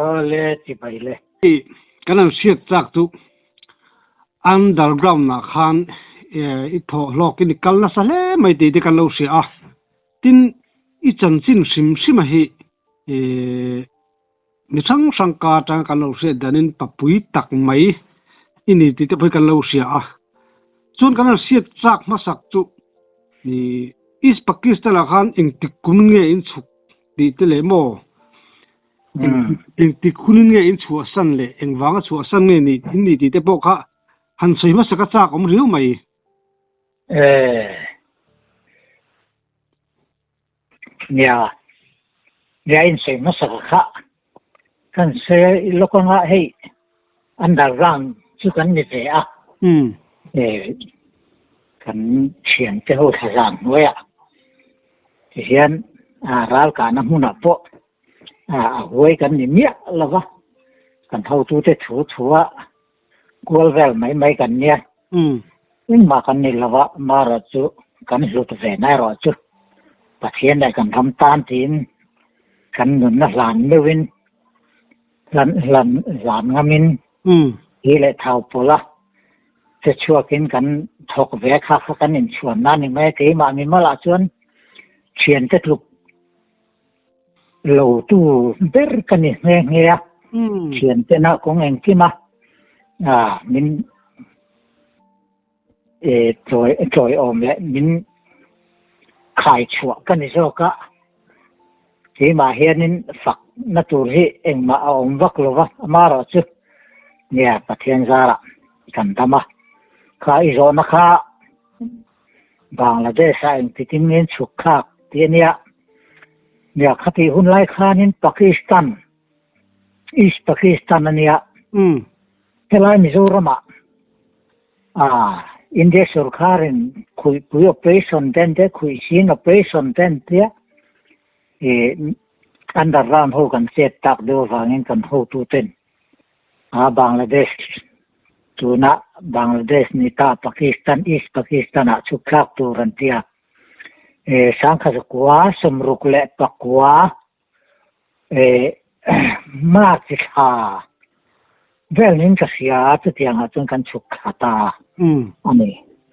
Aw le ti bai le. Hei kan han hriat chak chu underground ah khan i thawh hlawk i ni kal nasa hle mai tih te kan lo hria a, tin i chanchin hrim hrima hi mi hrang hrang ka atanga kan lo hriat danin papui tak mai i ni tih te pawh hi kan lo hria a, chuan kan han hriat chak hmasak chu East Pakistan ah khan engtik kum nge in chhuk Tih te leh maw? Eng tikhunin nge in chhuah san leh eng vanga chhuah san nge nih in nih tih te pawh kha han sawi hmasa ka chak awm riau mai. Eeh. Nia, nia in sawi hmasa ka khah. Kan Sir i lawk angah hei under ground chu kan ni ve a, kan thian te ho thlazan hnuaia tihian ral kahna hmunah pawh a huai kan ni miah lova kan hotute thu thu a, Kual vel mai mai kan nia, engmah kan nih lo a, maherawh chu kan hlut ve nai rawh chu, Pathian leh kan ram tan tiin kan nunna hlan meuhin, hlan hlan hlan ngamin hi leh thau pawla che chhuakin kan thawk ve kha kha kan inchhuan nan ni mai a, keimah mimal ah chuan thiante tluk lo tu ber ka ni nghe nghe a thian te na kong eng kim a a min e tloi tloi om le min khai chua ka ni zo ka ke ma hian in fak na tur hi eng ma a om vak lo va ma ro chu nghe pathian zara kan dama kha i zo na kha Bangladesh-a engtitin nge an chhukthlak tih a nia. Mya khatih hun lai khanin Pakistan, East Pakistan a nia. Helai Mizoramah India sorkarin khuihpui operation te an tia, khuihsin operation te an tia, underground ho kan chet tak deuh avangin kan hotuten A Bangladesh, tuna Bangladesh ni ta Pakistan, East Pakistan ah chhukthlak tur an ti a, e sangkha zakua, sawmruk leh pakua, e March i thla vel min ka hria chutiang ah chuan kan chhuk thla ta a ni.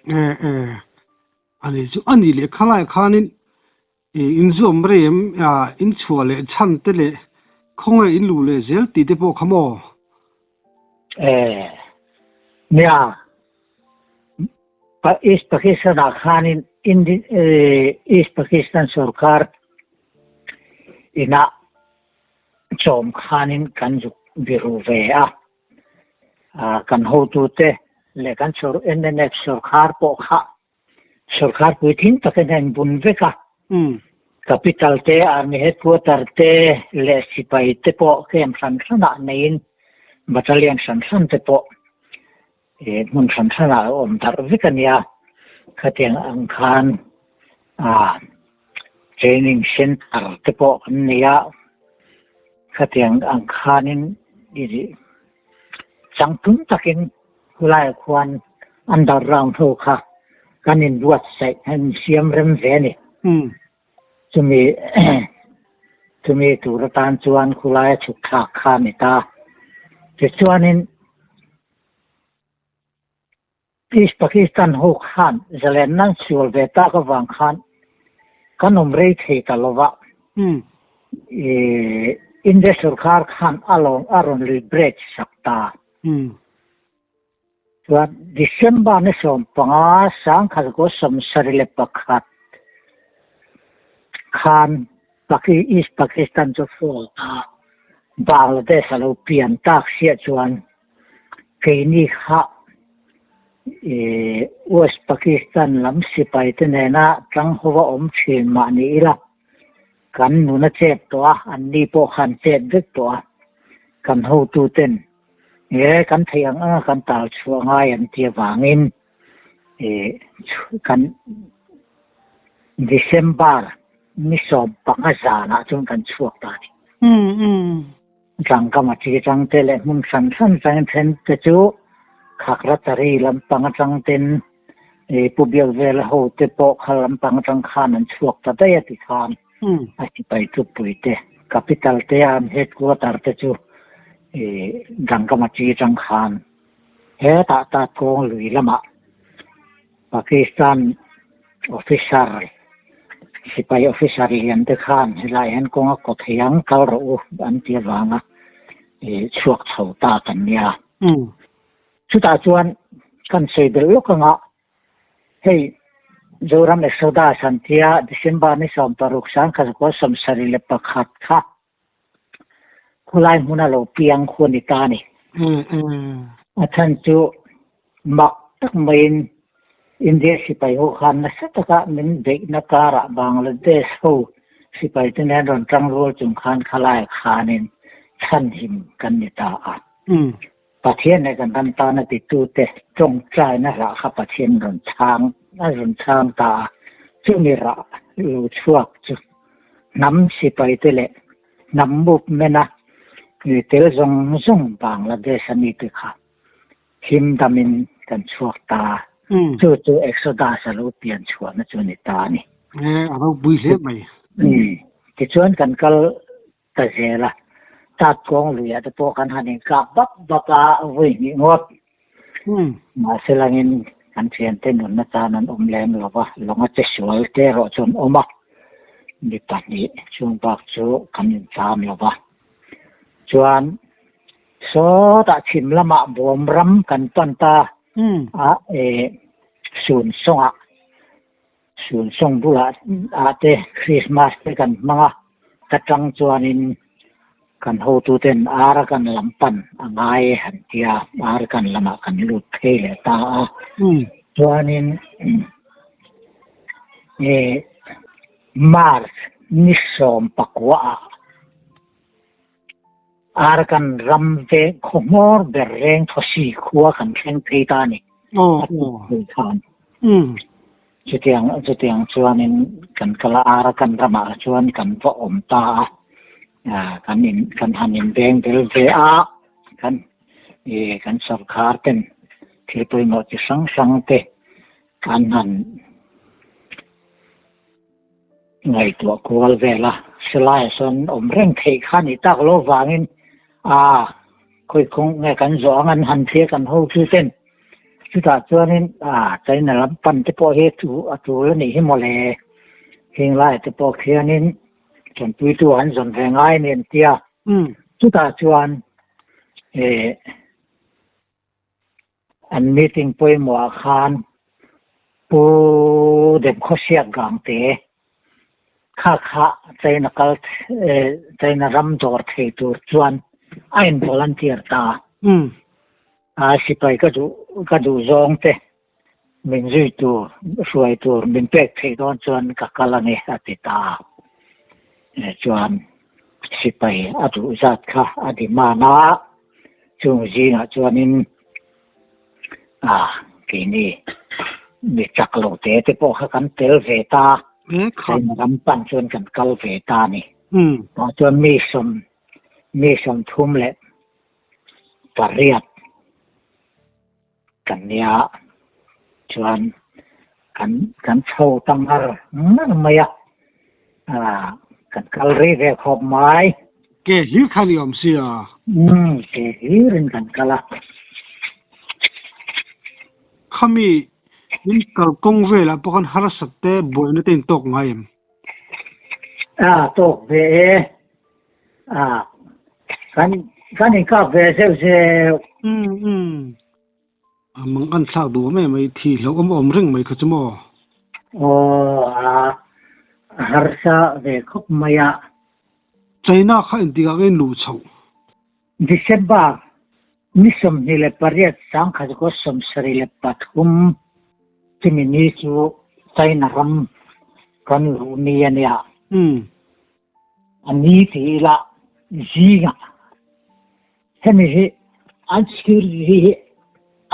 E e a ni chu a ni leh khalai khanin I inzuam rei em? Inchhuah leh chhan te leh khawngaih inluh leh zel tih te pawh kha maw? E nia, East Pakistan-ah khanin East Pakistan sorkar inah chawm khanin kan zuk biru ve a, kan hotute leh kan NMF sorkar pawh kha Sawrkar puitling tak in a inbun vek a, capital te, army headquarter te leh sipai te pawh camp hran hranah neiin battalion hran hran te pawh hmun hran hranah a awm darh vek a nia. Khatiang ang khan training centre te pawh kan nei a, khatiang ang khanin Changtlung takin khulaiah khuan underground ho kha kan in buatsaih, kan in siam rem ve a ni. Chumi chumi tur atan chuan khulaia thutthlak kha a ni ta. Tichuanin. Please Pakistan ho khan zalen nan sual ve tak avang khan kan awm rei thei ta lova ih India sorkar khan alawm a rawn lui break sak ta chuan December ni sawm panga sangkhat gosawm sarih leh pakhat khan Paki East Pakistan chu fawl ta Bangladesh alo pian tak chiah chuan Keini kha West Pakistan lam sipai te nena tlang ho va awm thin mah ni ila, kan nun a chet tawh a, an ni pawh kha an chet vek tawh a, kan hotu ten ee kan theih ang anga kan tal chhuah ngai an ti avangin kan December ni sawm panga zanah chuan kan chhuak ta a ni. Tlangkam a chi changte leh hmun hran hran changin thente chu Khakhratari lampang atang ten ih Pu Biakvela hote pawh kha lampang atang khan an chhuak ta daih a ti khan a sipai tupui te, capital te a an headquarter te chu ih Tlangkam a chi chang khan hetah Tatkawng lui lamah Pakistan officer, sipai officer lian te khan helai hian kawnga kawt hei ang kal rawh u an ti avanga ih chhuak chho ta kan nia. Chutah chuan kan sawi belh lawk anga hei Zoram Exodus an tia December ni sawm paruk sangkhat hakual sawmsarih leh pakhat kha Khawlai hmuna lo piang khu a ni ta ni. A chhan chu mak tak maiin India sipai ho khan nasa taka min beihna karah Bangladesh ho sipai te nen rawn tang rual chung khan Khawlai khanin chhan him kan ni ta a. Pathian e kan han tan a titu te tawngtaina hrah kha Pathian rawn chhang a rawn chhang ta a, chumi rah lo chhuak chu hnam sipai te leh hnam movement a tel zawng zawng vang la base a mi te kha him dam in kan chhuak ta a, chu chu Exodus a lo pian chhuah na chu a ni ta a ni. Alo pui hle mai. Tichuan kan kal Ka zel a, tat kawng luiah te pawh kan han inkak bap bap a, a vui hnih ngawt. Mahse langin kan thiante nunna tan an awm lem lo va, lawnga che sual te erawh chu an awm a, mi pahnih chung bak chu kan incham lo va. Chuan sawtah chhim lamah Buamram kan pan ta a, Sunsawngah. Sun sawng bula ah te Christmas te kan hmang a, ka tang chuan in kan hotu ten ar kan lam pan a ngai han ti a, ar kan lam ah kan lut phei leh ta a, chuan in March ni sawm pakua ah Ar kan ram veng khawmawr ber reng thawsi khua kan thleng phei ta a ni. Chutiang chutiang chuan in kan kal a ar kan ram ah chuan kan va awm ta a. Kan in kan han in beng bel ve a kan i kan sorkar ten thil pawimawh chi hrang hrang te kan han Ngaihtuah kual vel a Selaia sawn awm reng theih kha ni tak lo vangin aa khawi khawng nge kan zawh ang an han thlir kan ho chu ten chutah chuanin aa China lam pan te pawh hi chu a tul a nih hi mawle Hinglaia te pawh khianin Thawmpuitu an zawn ve ngai a ni an tia chutah chuan ee An meeting pawimawhah khan Pu Demkhawsiat Gangte kha kha China kal China ram dawr thei tur chuan a involunteer ta a. Sipai ka duh zawng te. Min zui tur, hruai tur min pek theih dawn chuan ka kal a ni, a ti ta a. Chuan sipai a duh zat kha a demand a, chung zingah chuanin ah, keini mi chak lo te te pawh kha kan tel ve ta, keini ram pan chuan kan kal ve ta a ni. Tah chuan mi sawm, mi sawmthum leh pariat. Kan nia chuan kan kan chho ta ngar ngar mai a, kan kal rei ve khawp mai. Ke hlir kha ni awm sia. Umm, ke hlir in kan kal a. Khami in kal kawng vel ah pawh khan harsat te buaina te in tawk ngai em? A tawk ve e. Ah, kan kan in kap ve zeu zeu. Umm umm. A mang an thlak duh mai mai thi hloh awm awm reng mai kha chu maw? Aw ah, a harsa ve khawp mai a. China kha entik ang in luh chhoh. December ni sawmhnih leh pariat sangkhat gaw sawmsarih leh pathum chumi ni chu China ram kan luh ni a nia. Umm. A ni tih ila zinga hemi hi an security hi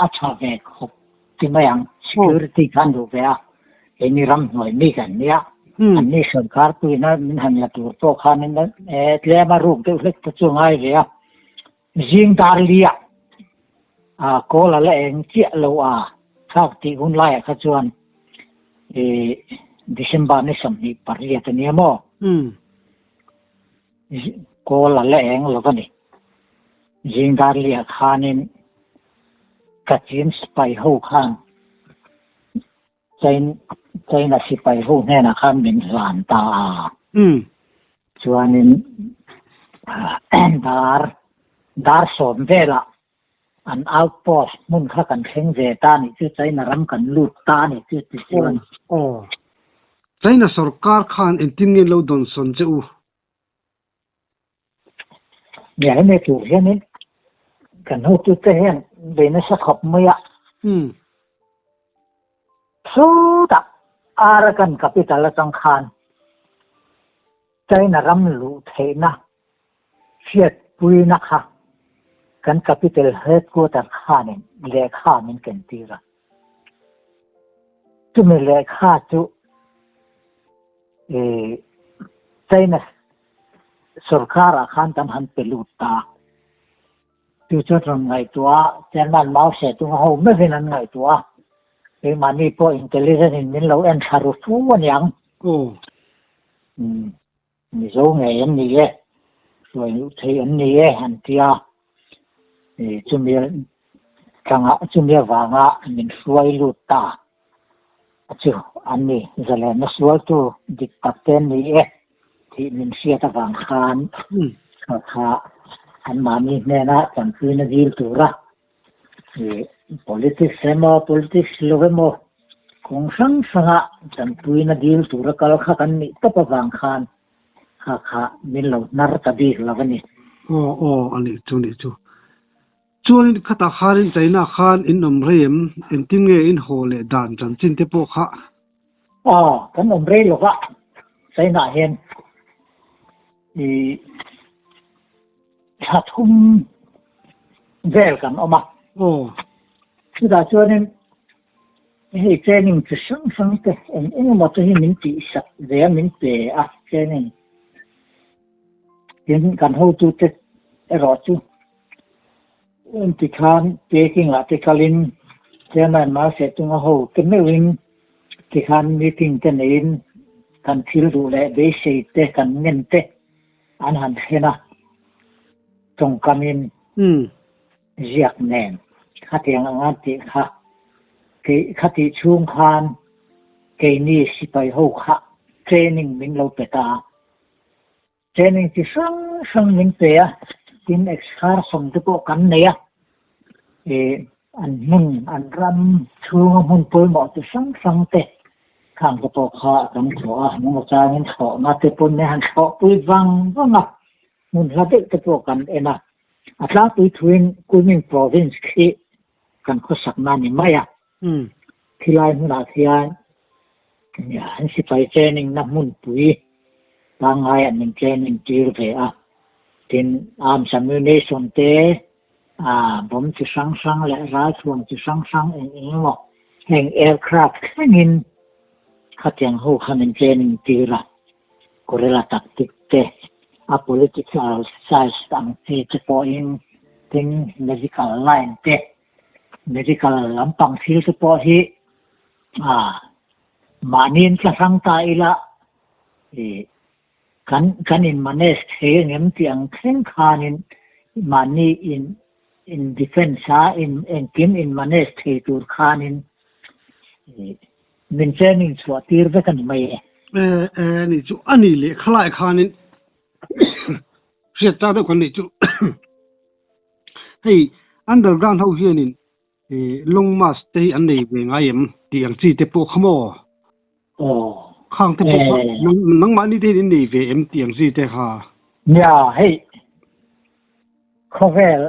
a tha ve khawp ti mai ang security khan duh ve a eni ram hnuai mi kan nia an ni sorkar puina min han la tur pawh khan e tlem a room deuh hlek te chu a ngai ve a Zing dar liah a kawl a la eng chiah lo a, thlak tih hun laiah kha chuan i December ni sawmhnih pariat a nia maw? Kawl a la eng lo va ni. Zing dar liah khanin Kachin spy ho khan China sipai ho hnenah khan min zan ta a, chuanin dar dar sawm velah an outpost hmun kha kan thleng ve ta nih chu China ram kan lut ta nih chu tichuan. Aw, China sorkar khan engtin nge lo dawnsawn che u? Nia hemi tur hianin kan hutute hian bei nasa khawp mai a. Hmm. Suta Arakan capital atang khan China ram luh theihna hriat puina kha kan capital headquarter khanin lehkha min ken tir a. Chumi lehkha chu eh China Sorkar ah khan kan han pe lut ta. Tu chuan rawn ngaihtuah a, Chairman Mao hre tunga ho meuhin an ngaihtuah a, keimah mi pawh intelligent in min lo en thla ru fu a niang. Aw. Umm, Mizo ngei an ni e, hruai luh thei an ni e an ti a. I chumi tlanga, chumi avanga min hruai lut ta a chu an ni. Zalenna sualtu dik tak te an ni e tih min hriat avang khan kha anmahni hnena chanpuin a zil tura i politics emaw, politics lo emaw kawng hrang hranga chanpuina dil tura kal khak an nih tawp avang khan, Kha kha, min lo hnar ta bik lo a ni. Aw aw, a nih chu, a nih chu. Chuanin khatah khanin chaihnah khan in awm rei em? Engtin nge in haw leh dan chanchin te pawh kha? Aw, kan awm rei lo va, chaihnah hian i thla thum vel kan awm a. Aw. Chutah chuanin Hei training chi hrang hrang te awm eng emaw te hi min tihsak ve a, min pe a training tin kan hotu te erawh chu en ti khan packing ah te kal in chairman Malseh Tung a ho te meuh in ti khan meeting te nei in kan thil duh leh beisei te kan ngen te an han hlen a tawngkam in. Ziak nen khatiang ang a tih kha, kei khati chhung khan keini sipai ho kha training min lo pe ta a, training chi hrang hrang min pe a, tin excursion te pawh kan nei a, eh an hmun an ram chhunga hmun pawimawh chi hrang hrang te khang te pawh kha kan thawh a, nung atangin thlawhna te pawh han thlawhpui vang vang a, hmunhla deuh te pawh kan en a, A tlangpui thuin Kunming Province khi kan khawsakna ni mai a, khilai hmunah khian an sipai cheningna hmunpui pangngai an in chening tir ve a, tin Arms Ammunition te, bomb chi hrang hrang leh ralthuam chi hrang hrang eng eng emaw heng Aircraft thlengin khatiang ho khan in chening tir a, Guerrilla tactic te, a political size ang chi te pawhin, tin medical line te, medical lampang thil te pawh hi ah mahni an tla hrang ta ila ih kan kan in manage thei angem tih ang thleng khanin mahni in in defence a in engkim in manage thei tur khanin ih Min che min chhuah tir vek a ni mai e. E e ni chu a nih leh kha lai khanin hriat ta deuh kan nih chu. Hei underground ho hianin long march te hi an nei ve ngai em tih ang chi te pawh kha maw? Aw. Khang te pawh kha nangmahni te hian in nei ve em tih ang chi te kha. Nia hei. Khawvel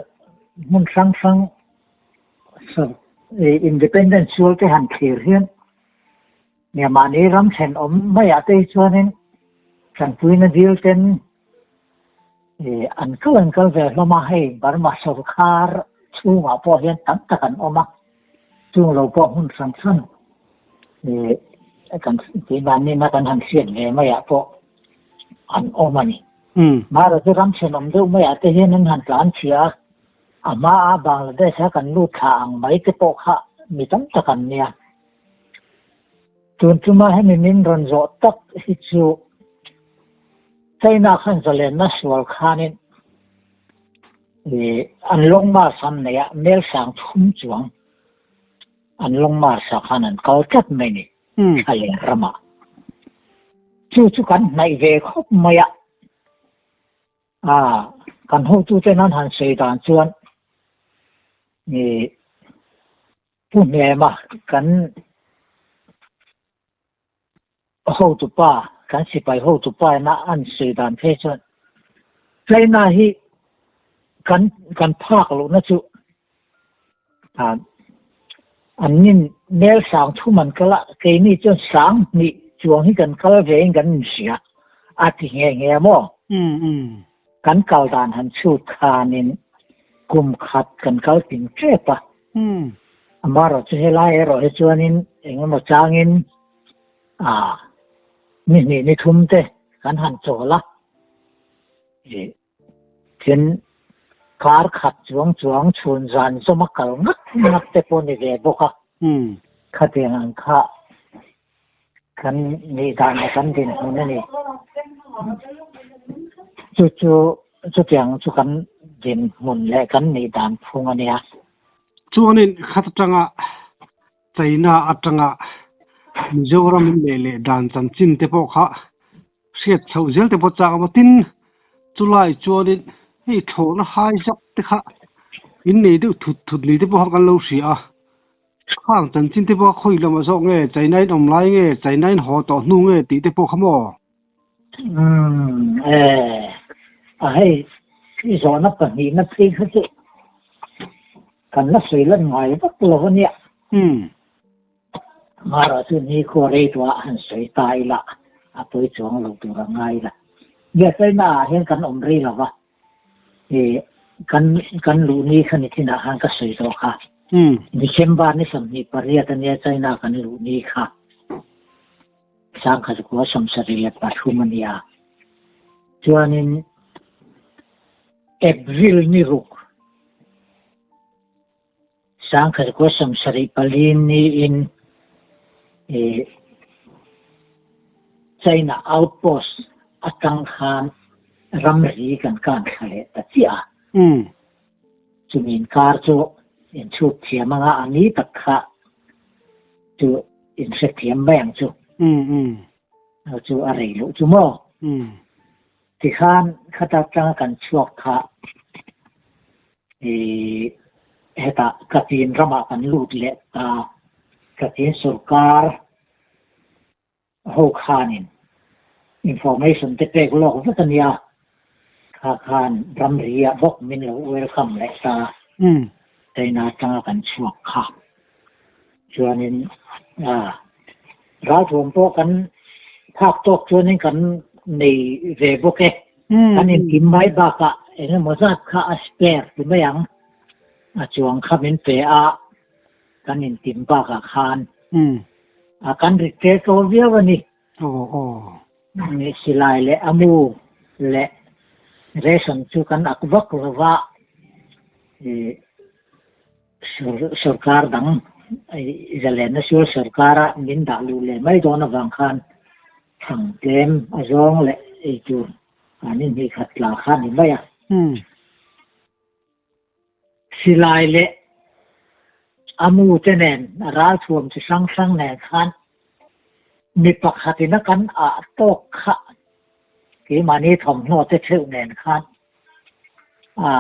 hmun hrang hrang independent sual te han thlir hian Myanmar-ni ram thlen awm mai ah te hi chuanin Tangpuina dil ten an kal an kal ve hlawm a, hei Burma sorkar chhungah pawh hian tam tak an awm a, chung lo pawh hmun hrang hrang kan tih dan nena kan han hriat ve mai ah pawh. an awm a ni. Bharatah ramchhen awm deuh maiah te hian an han tlan chhia a, a hmaa Bangladesh-a kan lut thla ang mai te pawh kha mi tam tak an nia. Tun tluma hemi min rawn zawh tak hi chu China khan zalenna sual khanin an long march han neih a, Melsang thum chuang an long march-a khan an kal tlat mai ni. Tha leh rama chu chu kan hnaih ve khawp mai a, ah kan hotute nan han sawi dan chuan mi pu hnema kan hotupa kan sipai hotupa ina an sawi dan phei chuan China hi kan kan phak lohna chu An nin mel sang thum an kal a, keini chuan sang hnih chuang hi kan kal ve in kan inhria a ti nghe nghe maw? Kan kal dan han chhut khan in kum khat kan kal tim tep a. Amah rawh chu helai erawh hi chuan in eng emaw chang in ni hnih ni thum te kan han chawl a. Tin, kar khat chuang chuang chhun zan zawma kal ngat ngat te pawh ni ve bawk a, khatiang ang kha kan nih danah kan dinhmun a ni. Chu chu chutiang chu kan dinhmun leh kan nih dan phung a nia. Chuanin khat atanga China atanga Mizoram in leh leh dan chanchin te pawh kha hriat chhoh zel te pawh chak a maw tin chu lai chuanin hei thlawhna hai zak te kha in nei deuh thut thut ni te pawh kha kan lo hria a, khang chanchin te pawh kha khawi lamah zawk nge China in awm lai nge China in haw tawh hnu nge tih te pawh kha maw? a hei khi zawhna pahnihna phei kha chu kan la sawi lan ngai vak lo a nia mahra chu nikhua reiruah han sawi ta ila a pawi chuang lo tur a ngai la hliah chhaina ah hian kan awm rei lo va Eh, kan, kan luh ni kha ni tinah khan ka sawi tawh kha. Hmm. December ni sawmhnih pariat a nia China kan luh ni kha. Sangha zakua sawmsarih leh pathum a nia. Chuanin April ni ruk. Sangkher Kosam sarih pali niin ih China outpost atang khan ramri kan kan thla leh ta chiah a, chumi inkar chu in chhuk thiam anga a ni tak kha chu in hrethiam mai ang chu, a chu a rei loh chu maw? Tikhan khata tanga kan chhuak kha I heta Kachin rama kan lut leh ta, Kachin sorkar ho khanin information te pek lawk vek ania, kha khan ramri ah bawk min lo welcome leh ta, China atanga kan chhuak kha. Chuanin ralthuam pawh kan phak tawk chuanin kan nei ve bawk e. Kan intim mai bakah engemaw zat kha a spare ti mai ang. A chuang kha min pe a, kan intim bakah khan kan rit ṭel ṭawl viau a ni. Silai leh a mu leh ration chu kan ak vak lo va. Sorkar dang Izalel Nasial Sorkara min dah luh leh mai dawn avang khan thlang tlem a zawng leh eitur an inhnih khat tla kha a ni mai a. Silai leh Amu te nen a ralthuam chi hrang hrang nen khan mi pakhatin a kan ah tawk kha keimahni thawmhnaw te theuh nen khan a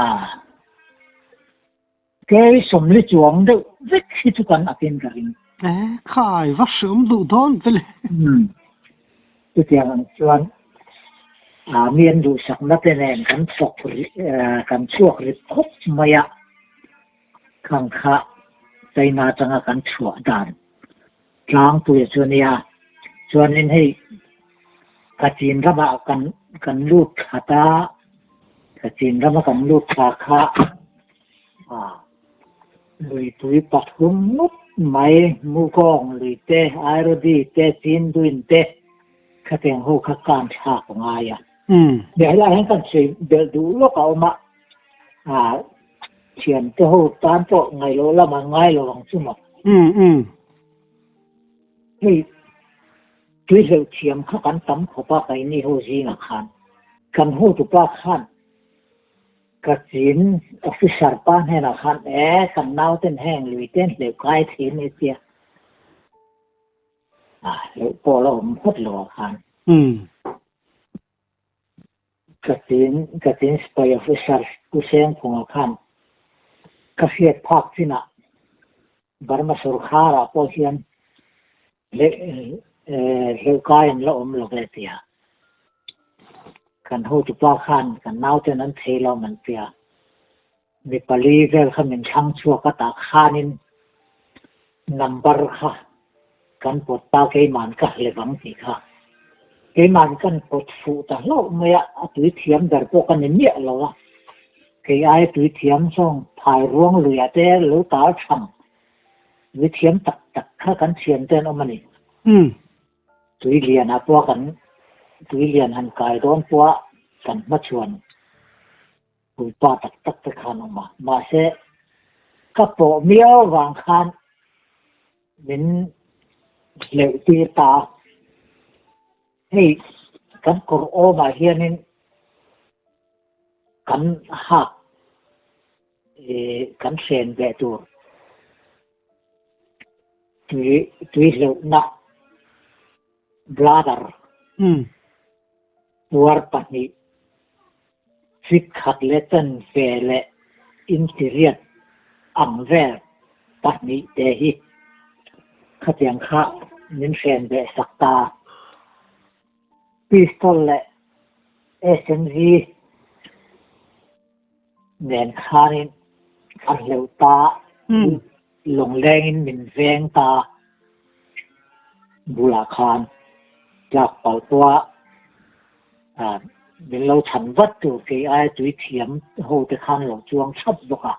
Kei sawmli chuang deuh vek hi chu kan akin ka ring. E, kha ai va hreawm duh dawn te le. Umm, chutiang ang chuan aa mi an duhsakna te nen kan chhuak kan chhuak rip khawp mai a, khang kha China atanga kan chhuah dan. Tlangpuia chuan nia, chuanin hei ka chin rama kan kan lut thla ta, ka chin rama kan lut thla kha a luipui pathum ngawt mai Mukawng lui te, Airodi te, Chinduin te thlatteng ho kha kan thlak ngai a, nia helai hian kan sawi belh duh lawk a awm a. ah thiam te ho tan pawh ngaih loh lam an ngai lo ang chu maw? Umm umm. Hei tui hleuh thiam kha kan tam khawp a kai ni ho zingah khan kan hotu pa khan ka chin officer pa hnenah khan eh kan nauten heng lui ten hleuh kai thei mai tia ah hleuh pawh a la awm phawt lo a khan. Umm. Ka tin, ka tin spy officer U Seng Phunga khan ka hriat phak chinah Burma sawrkharah pawh hian hleuhkai an la awm lo ve tia kan hotupa khan kan naute'n an thei lawm an tia. Mi pali vel kha min thlang chhuak a tah khanin number kha kan pawt ta keiman ka hle vang tih kha keiman kan pawt fuh ta hlauh mai a a tui thiam ber pawh ka ni miah lo a kei aia tui thiam zawng phai ruang luiah te lo tar thang tui thiam tak tak kha kan thiam ten awm a ni tui lian ah pawh kan tui lian han kai dawn pawh a kan hma chuan Tuipa tak tak te khan awm a, mahse ka pawh miau vang khan min hleuh tir ta a. Hei kan kawr awmah hianin kan hak kan hren ve tur tui tui hleuhna bladder tuar pahnih Fik khat leh chen fe leh intiriat ang vel pahnih te hi khatiang kha min hren ve sak ta. Pistol leh SMG nen khanin a hleuh ta. Lunglengin min veng ta bulah khan tlak palpua ah min lo chhan vat tur kei aia tui thiam ho te khan lo chuang thap bawk a.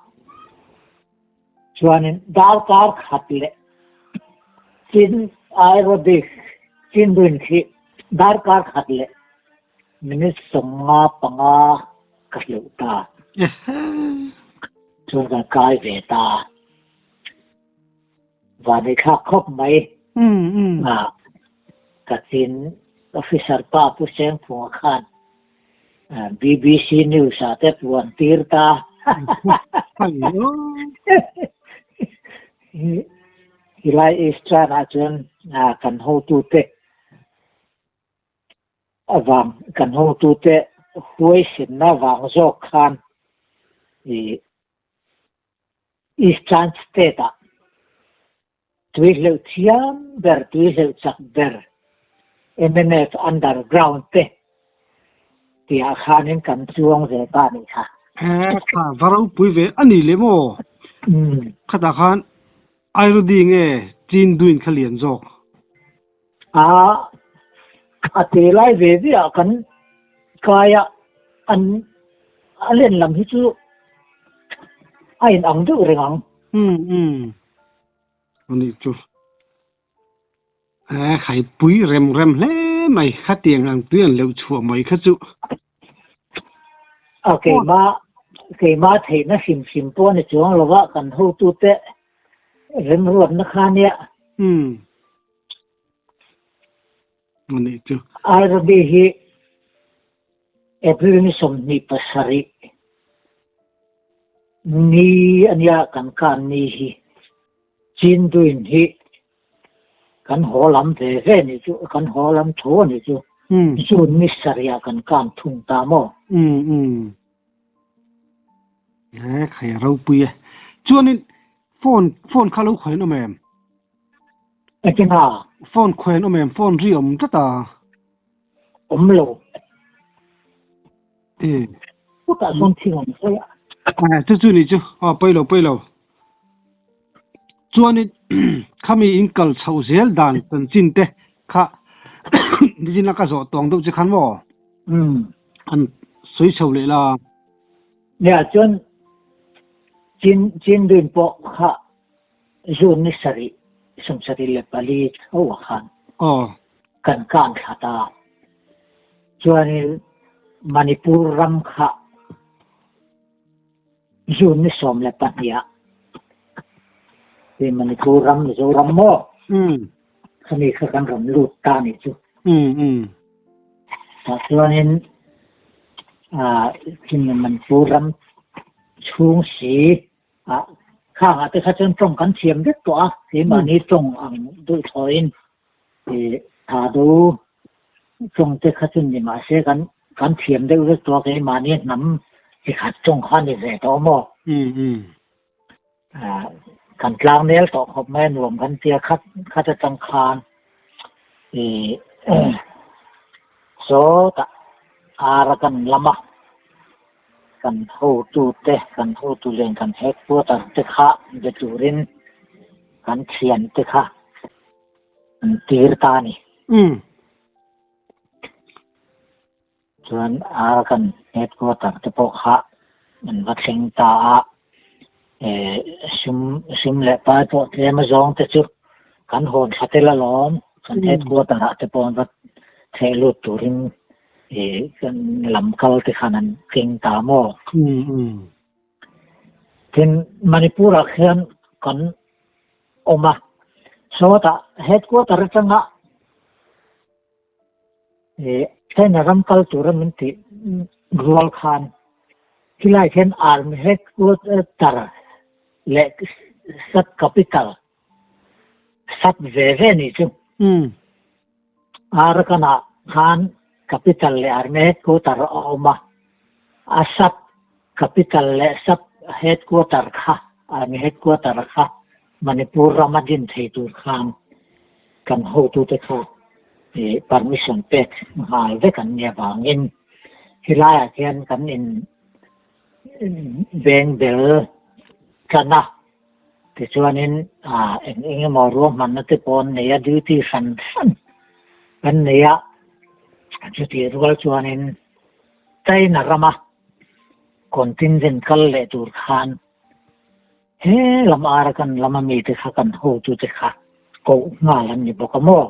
Chuanin darkar khat leh chin aerobic chinrin khi darkar khat leh Minute sawmnga panga ka hleuh ta, chuan kan kai ve ta, vanei thlak khawp mai ah Kachin officer pa Pu Sengphunga khan bbc news ah te puan tir ta, helai Easter ah chuan kan hotute Avang kan hawngtute huaihrinna vang zawk khan ih Eastern State-ah tui hleuh thiam ber, tui hleuh chak ber, MNF underground te tihah khanin kan chuang ve ta ni kha. He kha va ropui ve a ni leh maw? Khatah khan Airudi nge Chin duin kha lian zawk? Aa, a te lai ve viah kan kaia an a len lam hi chu a in ang deuh reng ang. Umm umm, a nih chu. Ehh, hai pui rem rem hle mai, khatiang ang tui an lo chhuah mai kha chu. a keima keima theihna hrim hrim pawh a ni chuang lo va kan hotu te rem ruatna kha nia hmm ani chu ai rabi hi april ni som ni pasari ni ania kan kan ni hi chin duin hi Kan haw lam ve ve nih chu, kan haw lam tho a nih chu, June ni sarihah kan kan thung ta maw? Ee, kha ya ropui e. Chuanin phone, phone kha lo khawiin awm em? Engtin a? Phone khawiin awm em? Phone ri awm tlat a. awm lo um khutah sawn thil awm sawi a a chu chu ni chu a pawi lo pawi lo chuanin khami in kal chho zel dan chaw chin te kha nizin laka zawh tawng deuh che khan maw um an sawi chho leh la nia chuan chin chin rin pawh kha Zu ni sarih, sum sarih leh pali chho ah khan kan kan thlat a, chuanin Manipur ram kha zu ni sawm leh pahnih ah, hei Manipur ram Mizoram maw khami kha kan rawn lut ta nih chu. Tah chuanin Manipur ram chhung si a khang ah te kha chuan tawng kan thiam vek tawh a, keimahni tawng ang duhthawiin tha do tawng te kha chu ni mah se kan kan thiam deuh vek tawh a, keimahni hnam chi khat tawng kha ni ve tawh maw, kan tlang nel tawh khawp mai a nuam kan tia khat khat atang khan sawtah ar a kan lam a. Kan hotute, kan hotu len kan headquarter te kha be turin kan thian te kha an tir ta a ni. Chuan a kan headquarter te pawh kha an va thleng ta a, hrim hrim leh pai pawh tlem azawng te chu kan hawn thla tel alawm, kan headquarter ah te pawh an va theh lut turin. E kan lam kal te khan an keng ta maw? Tin Manipur ah khian kan awm a, sawta headquarter atanga e China ram kal tura min tih rual khan khilai khian army headquarter leh sub capital sat ve ve ni chu um arakana khan capital le army headquarter a awma a sat capital le sat headquarter kha army headquarter kha manipur rama din thei tur khan kan ho tu te kha e permission pek ngal ve kan nia bangin hilai a hian kan in beng bel kana Tichuanin eng eng emaw ruahmanna te paw'n neia duty hran hran kan nei a, chutih rual chuanin China rama contingent kal leh tur khan he lam Arakan lama mite kha kan hotute kha koh nghal an ni bawk a maw?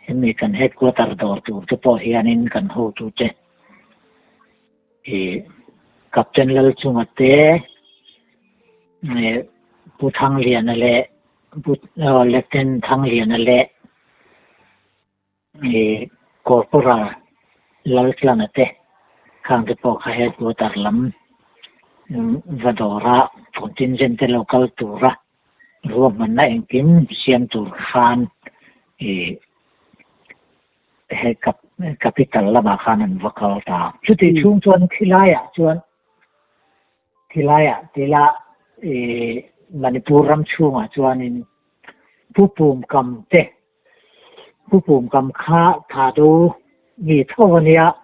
Hemi kan headquarter dawr tur te pawh hianin kan hotute Ih Captain Lalchunga te, ih Pu Thangliana leh Pu Lieutenant Thangliana leh ih Corporal Laltlana te khang te pawh kha headquarter lam va dawra contingent te lo kal tura ruahmanna engkim siam tur khan ih He capital lamah khan an va kal ta. Chuti chhung chuan khilaiah chuan, khilaiah tila Manipur ram chhungah chuanin Pu Pumkam te, Pu Pumkam kha Thadu mi tho a nia,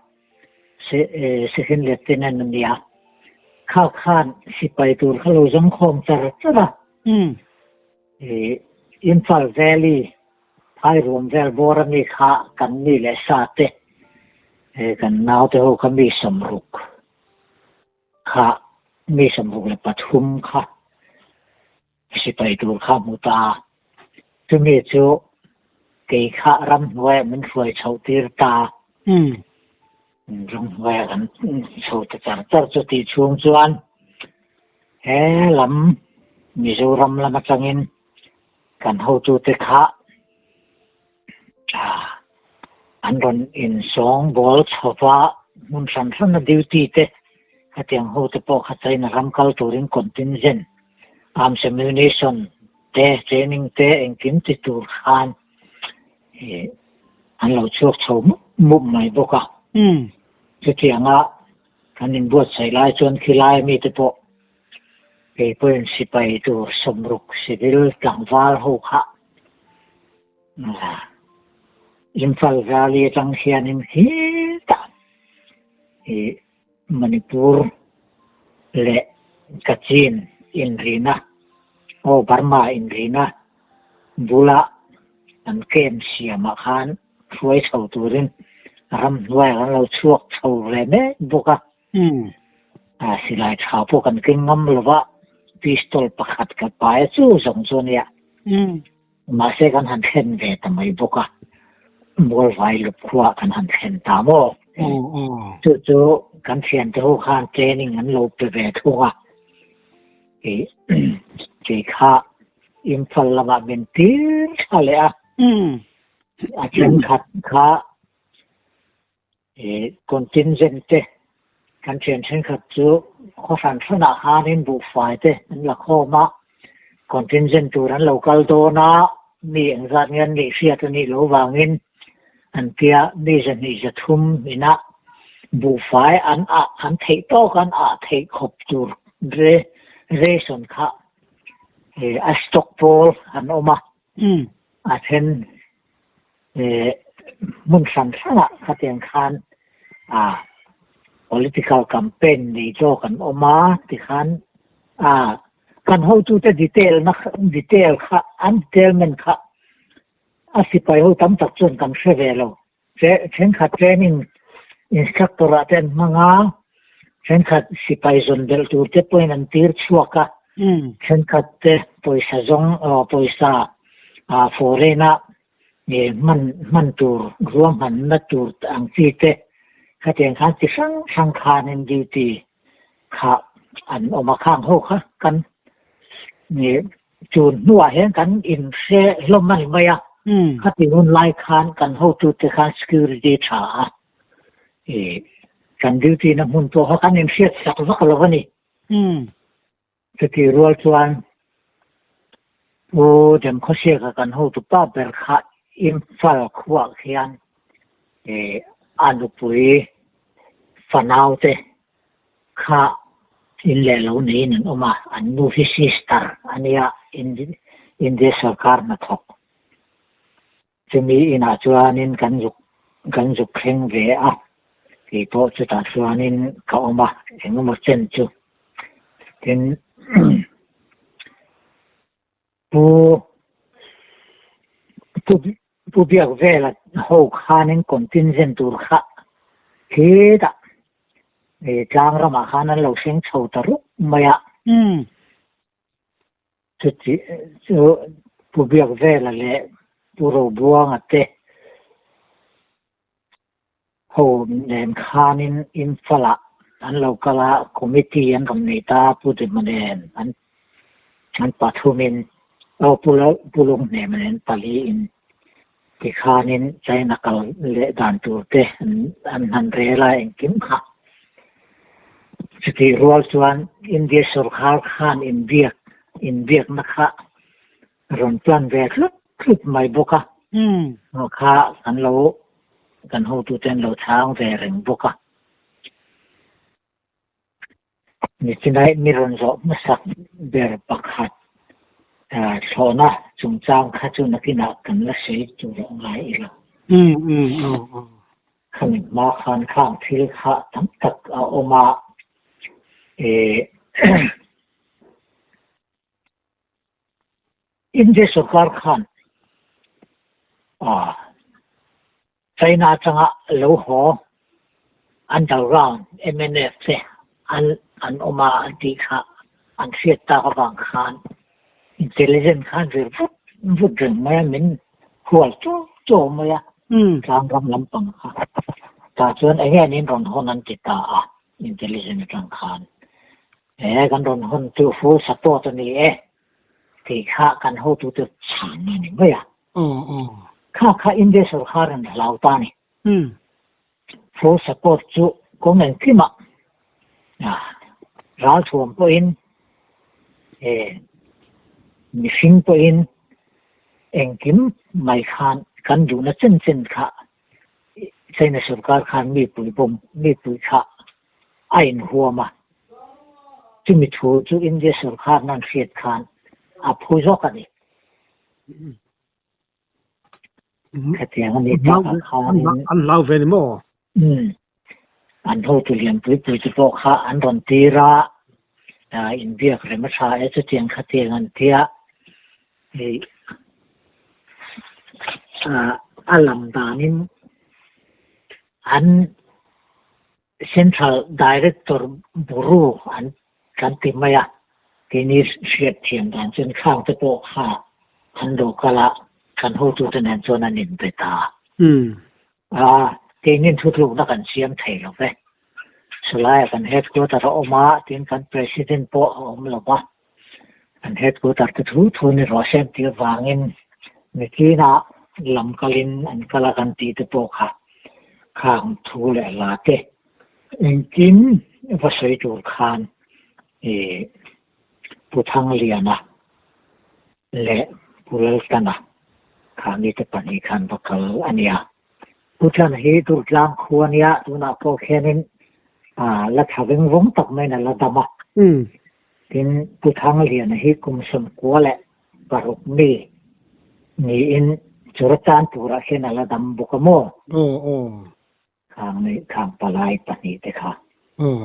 Second Lieutenant a nia, kha khan sipai tur kha lo zawng khawm char char a. Imphal Valley phairuam vel bawra mi kha kan mi leh sa te, kan naute ho kha mi sawmruk kha, mi sawmruk leh pathum kha sipai tur kha hmu ta a. Chumi chu kei kha ramhnuaiah min hruai chhoh tir ta a. Ram hnuaia kan chho ta char char chu tih chhung chuan he lam Mizoram lam atangin kan hotute kha an rawn insawng bawl chhawp a, hmun hran hrana duty te hetiang hote pawh kha China ram kal turin contingent arms ammunition te training te engkim ti tur khan, hi an lo chhuak chho mup mup mai bawk a, chutianga kan inbuatsaih lai chuan khilai mite pawh keipawhin sipai tur sawmruk civil tlangval ho kha Imphal Valley atang hianin khi ta hi Manipur leh Kachin inrihna aw Burma inrihna bula an kem siamah khan hruai chho turin ram hnuaia kan lo chhuak chho ve mek bawk a, silai tha pawh kan keng ngam lova pistol pakhat ka paia chu zawng chuan ia Mahse kan han thlen ve ta mai bawk a, Mualvai lup khuaah kan han thlen ta maw? Chu chu kan thiante ho khan training an lo pe ve thung a, kei kha Imphal lamah min tir tha leh a, a thenkhat kha Contingent te kan thian thenkhat chu khaw hran hranah hianin buhfai te an la khawm a, contingent tur an lo kal dawn a, mi engzat nge an nih hriat anih loh vangin an tia mi zahnih zathum inah buhfai an ah an theih tawk an ah theih khawp tur ration kha a stockpole an awm a. a then hmun hran hrangah khatiang khan political campaign nei tawh kan awm a tikhan kan hotute detail na detail kha an detailment kha a sipai ho tam tak chuan kan hre ve lo. Thenkhat tlêngin instructor-a te an hmang a, thenkhat sipai zawn belh tur te pawhin an tir chhuak a, thenkhat te pawisa zawng aw pawisa foreign-a hman hman tur ruahman na tur ang chi te khatiang khan chi hrang hrang khanin duty kha an awm a khang ho kha kan Chu hnuah hian kan in hre hlawm a ni mai a, khati hun lai khan kan hotu te khan security tha a i kan duty na hmun pawh kha kan in hriat sak vak lo a ni. Chutih rual chuan Pu Demkhawsiaka kan hotu pa ber kha Imphal khuah khian i a nupui fanau te, Khah, in leh lo neiin an awm a, an nu hi sister a nia, India sawrkar hnathawk chumi inah chuanin kan zuk kan zuk thleng ve a, kei pawh chutah chuanin ka awm a, engemaw chen chu, tin Pu pu pu biak vel a ho khanin contingent tur kha khi dah e tlang ramah khan an lo hreng chho ta rup mai a um chu chi chu pu biak vel a leh pu robuanga te Ho nen khanin Imphal-ah an lo kal a, committee an rawn nei ta, Pu Dema nen an pathumin, aw, Pu Lung Hnema nen paliin ti khanin China kal leh dan tur te an han rel a engkim kha. Chutih rual chuan India sorkar khan inbiak, inbiakna kha Ka rawn tlan ve hlup hlup mai bawk a, hnu kha kan lo, kan hotu ten lo chhang ve reng bawk a. Mi chinaih mi rawn zawh hmasak ber pakhat thlawhna chungchang kha chu nakinah kan la sawi tur a ngai ila, khami hma khan khang thil kha tam tak a awm a, India sorkar khan China atanga lo haw underground MNF te an an awm a an tih kha an hriat tak avang khan intelligent khan vel vut vut reng mai a min hual chu chu mai a tlang ram lampang kha ta chuan enge an in rawn hawn an ti ta a intelligent atang khan He kan rawn huntu full support a ni e tih kha kan hotute chhang na ni mai a. Kha kha India sorkar an hlau ta ni. Full support chu kawng engkim ah ral thuam pawh in he mihring pawh in engkim mai khan kan duhna chen chen kha China sorkar khan mi pui bawm mi pui kha a inhuam a, chumi thu chu India sorkarna an hriat khan a phu zawk a ni. Khatiang a nih takah khan. An hlau ve ni maw? Um. An hotu lianpui pui te pawh kha an rawn tir a, inbiak rem a tha e chutiang khatiang an tia, hei a lam danin. An Central Director Buru an kan ti mai a, kei ni hriat thiam dan chuan thlâng te pawh kha an local a kan hotu te nen chuan an inbet a, aa keinin thutlukna kan siam thei lo ve, chulaiah kan headquarter a awm a, tin kan President pawh a awm lo va. An headquarter te thu thu ni rawh shem tih avangin Mitlina lam kalin an kal a kan tih te pawh kha khang thu leh la te engkim va sawi tur khan i Pu Thangliana leh Pu Laltana kha mite pahnih khan va kal a nia. Pu Tlan hi Durtlang khua nia tunah pawh khianin la tha veng vawng tak maiin a la dam a. Tin, Pu Thangliana hi kum sawn kua leh paruk mi niin chura tan turah hian a la dam bawk a maw? Aw aw. Khang leh khang palai pahnih te kha. Aw.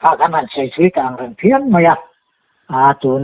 Kha kan rawn sawi chui ta ang reng phian mai a. Aa tun